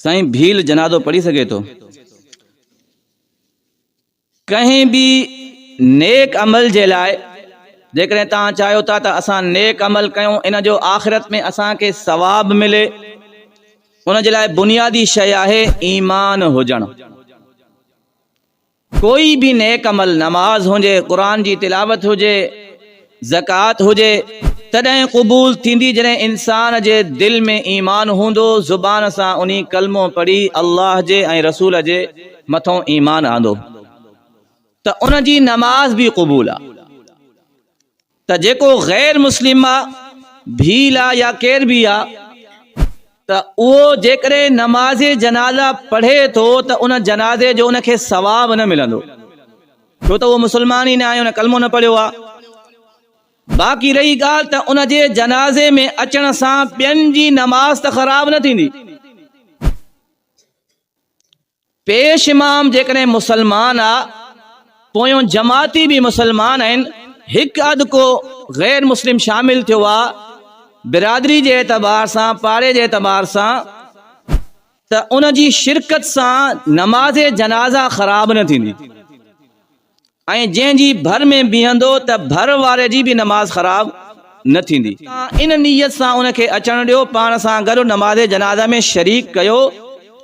سائين ڀيل جنازو پڙهي سگهي ٿو. ڪنهن به نيڪ عمل جي لاء جيڪڏهن توهان چاهيو ٿا ته اسان نيڪ عمل ڪيون ان جو آخرت ۾ اسان کي ثواب ملي ان جي لاء بنيادي شيء آهي ايمان هجڻ. ڪوئي به نيڪ عمل، نماز هجي، قرآن جي تلاوت هجي، زڪوات هجي، تڏهن قبول ٿيندي جڏهن انسان جي دل ۾ ايمان هوندو، زبان سان انهي ڪلمو پڙهي الله جي ۽ رسول جي مٿئون ايمان آندو ته ان جي نماز به قبول آ. ته جيڪو غير مسلم آ، ڀيل آ يا ڪير به آ ته اهو جيڪڏهن نماز جنازه پڙهي ٿو ته ان جنازي جو ان کي ثواب نه ملندو ڇو ته اهو مسلمان ئي نه آهي ان ڪلمو نه پڙهيو آ. باقي رهي ڳالهه ته ان جي جنازي ۾ اچڻ سان ٻين جي نماز ته خراب نه ٿيندي. پيش امام جيڪڏهن مسلمان آ پويون جماعتي به مسلمان آهن هڪ اڌ ڪو غير مسلم شامل ٿيو آ برادري جي اعتبار سان پاڙي جي اعتبار سان ته ان جي شرڪت سان نماز جنازه خراب نه ٿيندي. ۽ جنهن جي ڀر ۾ بيهندو ته ڀر واري جي به نماز خراب نه ٿيندي. تان ان نيت سان ان کي اچڻ ڏيو، پاڻ سان گڏ نماز جنازه ۾ شريڪ ڪيو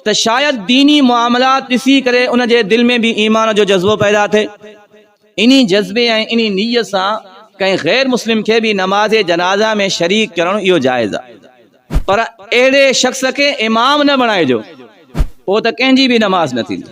ته شايد ديني معاملات ڏسي ڪري ان جي دل ۾ به ايمان جو جذبو پيدا ٿئي. انهي جذبي ۽ انهي نيت سان ڪنهن غير مسلم کي به نماز جنازه ۾ شريڪ ڪرڻ اهو جائز آهي. پر اهڙي شخص کي امام نه بڻائجو، پوء ته ڪنهن جي به نماز نه ٿيندي.